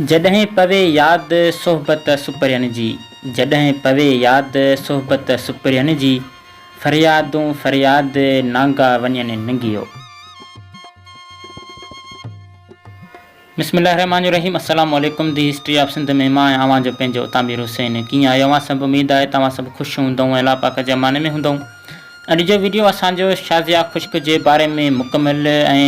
جڏهن پوي ياد صحبت سپرين جي، جڏهن پوي ياد صحبت سپرين جي، فريادون فرياد نانگا وڃن ننگيو. بسم الله الرحمٰن الرحيم السلام عليڪم دي هسٽري آف سنڌ ۾ مان ۽ اوهان جو پنهنجو اتامير حسين ڪيئن آهيو اوهان سڀ اميد آهي ته اوهان سڀ خوش هوندئون ۽ الله پاڪ جي امان ۾ هوندئون اڄ جو وڊيو اسان جو شازيا خشڪ جي باري ۾ مڪمل ۽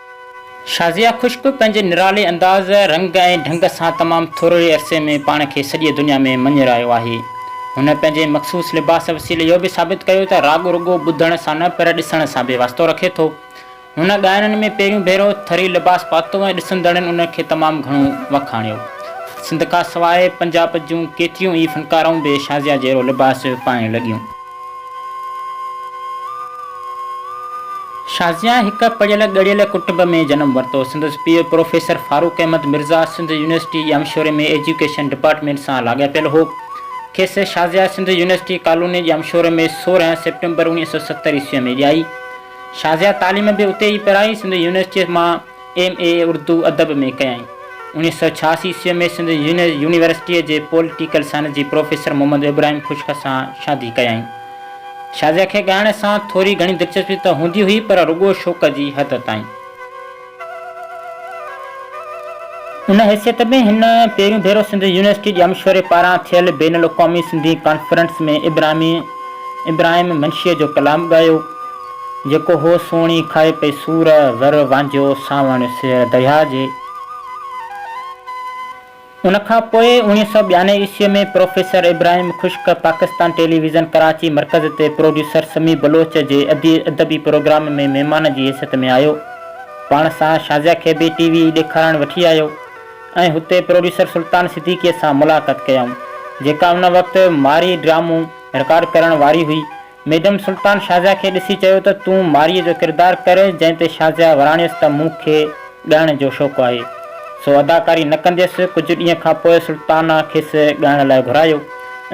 شازيا خشڪ پنهنجي نرالي انداز، رنگ ۽ ڍنگ سان تمام ٿورڙي عرصي ۾ پاڻ کي سڄي دنيا ۾ مڃرايو آهي. هن پنهنجي مخصوص لباس وسيلي اهو به ثابت ڪيو ته راڳ رڳو ٻڌڻ سان نه پر ڏسڻ سان به واسطو رکي ٿو. هن ڳائڻن ۾ پهريون ڀيرو ٿري لباس پاتو ۽ ڏسندڙن ان کي تمام گهڻو وکاڻيو. سنڌ کان سواء پنجاب جون ڪيتريون ئي فنڪارائون به شازيا جهڙو لباس پائڻ لڳيون. شازيان هڪ پڙهيل ڳڙهيل ڪٽنب ۾ جنم ورتو. سندس پيء پروفيسر فاروق احمد مرزا سنڌ يونيورسٽي ڄامشوري ۾ ايجوڪيشن ڊپارٽمينٽ سان لاڳاپيل هو. کيس شازيا سنڌ يونيورسٽي ڪالوني ڄامشوري ۾ سورهن سيپٽمبر اوڻيهه سؤ ستر عيسويء ۾ ڄائي. شازيا تعليم به اتي ئي پرائي. سنڌ يونيورسٽيء مان ايم اي اردو ادب ۾ ڪيائين. اڻيهه سؤ ڇهاسي عيسويء ۾ سنڌ يونيورسٽيء جي پوليٽيڪل سائنس جي پروفيسر محمد ابراهيم خشڪ سان شادي ڪيائين. شازيا کي ڳائڻ سان ٿوري گهڻي دلچسپي ته هوندي هئي پر رڳو شوق جي حد تائين. ان حيثيت ۾ هن پهريون ڀيرو سنڌ يونيورسٽي جي امشوري پاران ٿيل بين الاقوامي سنڌي ڪانفرنس ۾ ابراهيم منشيء جو ڪلام ڳايو. جيڪو هو سوڻي کائي پئي سور، زر، وانجهو، سانوڻ، سير، درياء جي. ان کان پوء اوڻيهه سؤ ٻيانوي عيسوي ۾ professor Ibrahim Khushk Pakistan television Karachi مرڪز تي پروڊيوسر سميع بلوچ جي ادبي پروگرام ۾ مهمان جي حيثيت ۾ آيو. پاڻ سان شازيا کي به ٽي وي ڏيکارڻ وٺي آيو ۽ هتي پروڊيوسر سلطان صديقي سان ملاقات ڪيائون جيڪا ان وقت مارئي ڊرامو رڪارڊ ڪرڻ واري هئي. ميڊم سلطان شازيا کي ڏسي چيو ته تون مارئيء جو ڪردار ڪر، جنهن تي شازيا وراڻيس ته مون کي ڳائڻ جو شوق آهي، سو اداڪاري نه ڪنديس. ڪجهه ڏينهن کان پوء سلطان کيس ڳائڻ لاء گهرايو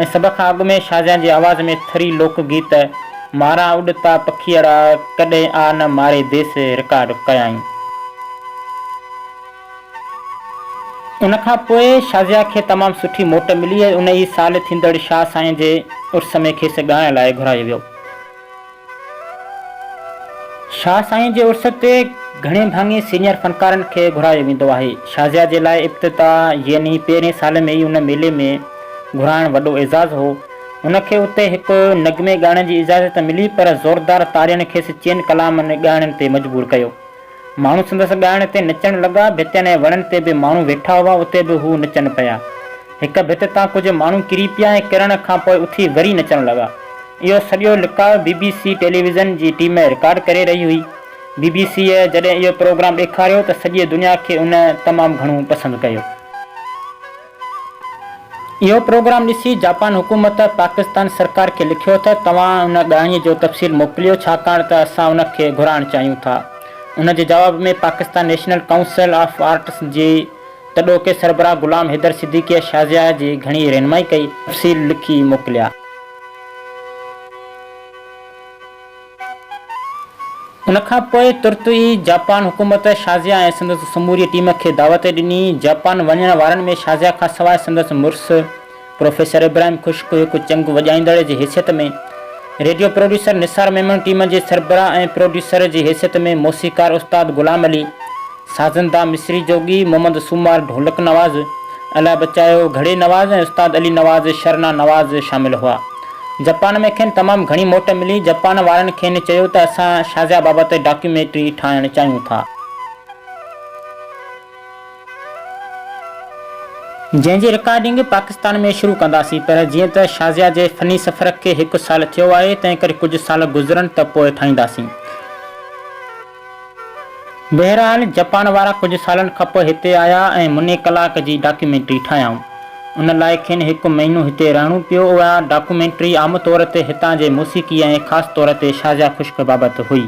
۽ سڀ کان اڳ ۾ شازيا جي آواز ۾ ٿري لوڪ گيت ماران اڏتا پکيئڙا ڪڏهن آ نه ماري ديس رڪارڊ ڪيائين. ان کان پوء شازيا کي تمام سٺي موٽ ملي ۽ ان ئي سال ٿيندڙ شاهه سائين جي عرس ۾ کيس ڳائڻ لاء گهرايو ويو. شاهه سائين جي عرس تي گهڻي ڀاڱي سينئر فنڪارن کي گهرايو ويندو آهي. شازيا جي لاء ابتدا يعني پهرين سال ۾ ئي ان ميلي ۾ گهرائڻ وڏو اعزاز هو. هن کي اتي هڪ نغمي ڳائڻ جي اجازت ته ملي پر زوردار تاڙين کيس چئن ڪلامن ڳائڻ تي مجبور ڪيو. ماڻهو سندس ڳائڻ تي نچڻ لڳا. ڀتين ۽ وڻن تي به ماڻهو ويٺا هئا، اتي به هو نچن پيا. هڪ ڀت تان ڪجهه ماڻهو ڪري پيا ۽ ڪرڻ کان پوء اٿي وري نچڻ لڳا. اهو سڄو لقاء بي بي سي ٽيليويزن جي ٽيم رڪارڊ ڪري رهي هئي. بي بي سيء جڏهن اهو پروگرام ڏيکاريو ته سڄي دنيا کي ان تمام گهڻو پسند ڪيو. اهو پروگرام ڏسي جاپان حڪومت پاڪستان سرڪار کي لکيو ته توهان ان ڳاهيء جو تفصيل موڪليو ڇاڪاڻ ته اسان ان کي گهرائڻ چاهيون ٿا. ان جي جواب ۾ Pakistan national council of arts جي تڏهوڪي سربراهه غلام حيدر صديقيء شازيا جي گهڻي رهنمائي ڪئي. تفصيل لکي موڪليا. ان کان پوء ترت ئي جاپان حڪومت شازيا ۽ سندس سموري ٽيم کي دعوت ڏني. جاپان وڃڻ وارن ۾ شازيا کان سواء سندس مڙس پروفيسر ابراهيم خشڪ هڪ چنگ وڄائيندڙ جي حيثيت ۾، radio producer Nisar Memon team جي سربراهه ۽ پروڊيوسر جي حيثيت ۾، موسيقار استاد غلام علي، سازندا مصري جوڳي محمد سومار ڍولڪ نواز، الاهي بچايو گهڙي نواز ۽ استاد علي نواز شرنا نواز شامل هئا. جپان ۾ کين تمام گهڻي موٽ ملي. جپان وارن کين چيو ته اسان شازيا بابت ڊاڪيوميٽري ٺاهڻ چاهيون ٿا. جنهن جي رڪارڊنگ پاڪستان ۾ شروع ڪنداسين پر جيئن ته شازيا جي فني سفر کي هڪ سال ٿيو آهي تنهنڪري ڪجهه سال گذرن ته پوء ٺاهينداسين. بهرحال جپان وارا ڪجهه سالن کانپوء هتي آيا ۽ مني ڪلاڪ جي ڊاڪيومينٽري ٺاهيائون. ان لاء کين هڪ مهينو هتي رهڻو پيو. اها ڊاڪيومينٽري عام طور تي هتان جي موسيقي ۽ خاص طور تي شازيا خشڪ بابت هئي.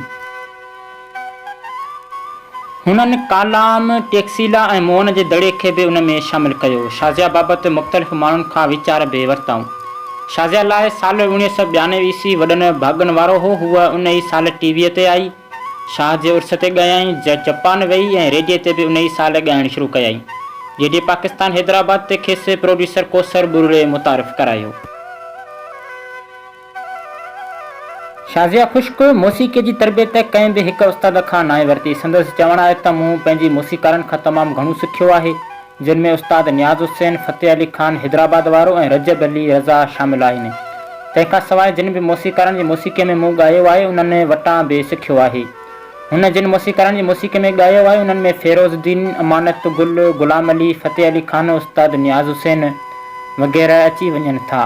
هنن ڪالام، ٽيڪسيلا ۽ موهن جي دڙي کي به ان ۾ شامل ڪيو. شازيا بابت مختلف ماڻهن کان ويچار به ورتائون. شازيا لاء سال اوڻيهه سؤ ٻيانوي عيسوي وڏن ڀاڳن وارو هو. هوء ان ئي سال ٽي ويء تي آئي، شاهه جي عرس تي ڳايائين، جپان ويئي ۽ ريڊيي تي به ان ئي سال ڳائڻ شروع ڪيائين. ريڊيي پاڪستان حيدرآباد تي کيس پروڊيوسر ڪوثر ٻرڙي متعارف ڪرايو. شازيا خشڪ موسيقيء جي تربيت ڪنهن به هڪ استاد کان ناهي ورتي. سندس چوڻ آهي ته مون پنهنجي موسيقارن کان تمام گهڻو سکيو آهي. جن ۾ استاد نياز حسين، فتح علي خان حيدرآباد وارو ۽ رجب علي رضا شامل آهن. تنهن کان سواء جن به موسيقارن جي موسيقيء ۾ مون ڳايو آهي، انهن وٽان به سکيو آهي. هن جن موسيقارن جي موسيقيء ۾ ڳايو آهي، انهن ۾ فيروز الدين، امانت گل، غلام علي، فتح علي خان، استاد نياز حسين وغيره اچي وڃن ٿا.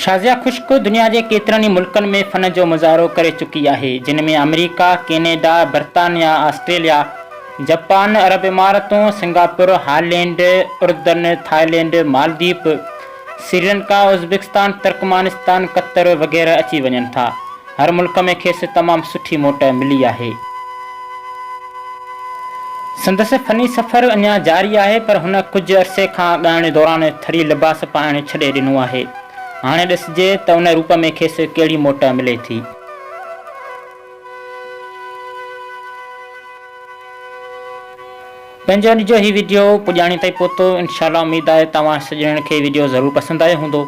شازيا خشڪ دنيا جي ڪيترن ئي ملڪن ۾ فن جو مظاهرو ڪري چڪي آهي، جن ۾ آمريڪا، ڪينيڊا، برطانيا، آسٽريليا، جپان، عرب امارتون، سنگاپور، هالينڊ، اردن، ٿائلينڊ، مالديپ، سريلنڪا، ازبڪستان، ترڪمانستان، قطر وغيره اچي وڃن ٿا. هر ملڪ ۾ کيس تمام سٺي موٽ ملي آهي. سندس فني سفر اڃا جاري آهي پر هن ڪجهه عرصي کان ڳائڻ دوران ٿري لباس پائڻ ڇڏي ڏنو آهي. هاڻي ڏسجي ته ان روپ ۾ کيس ڪهڙي موٽ ملي ٿي. پنهنجو نجو هي ويڊيو پڄاڻي تائين پهتو انشاء الله اميد آهي توهان سڄڻن کي ويڊيو ضرور پسند آيو هوندو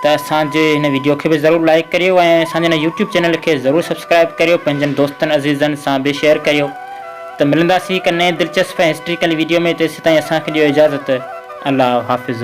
ته اسان جي هن ويڊيو کي به ضرور لائيڪ ڪريو ۽ اسان جي هن يوٽيوب چينل کي ضرور سبسڪرائيب ڪريو پنهنجن دوستن عزيزن سان به شيئر ڪريو ته ملنداسين هڪ نئين دلچسپ ۽ هسٽريڪل ويڊيو ۾ تيسيتائين اسان کي ڏيو اجازت الله حافظ.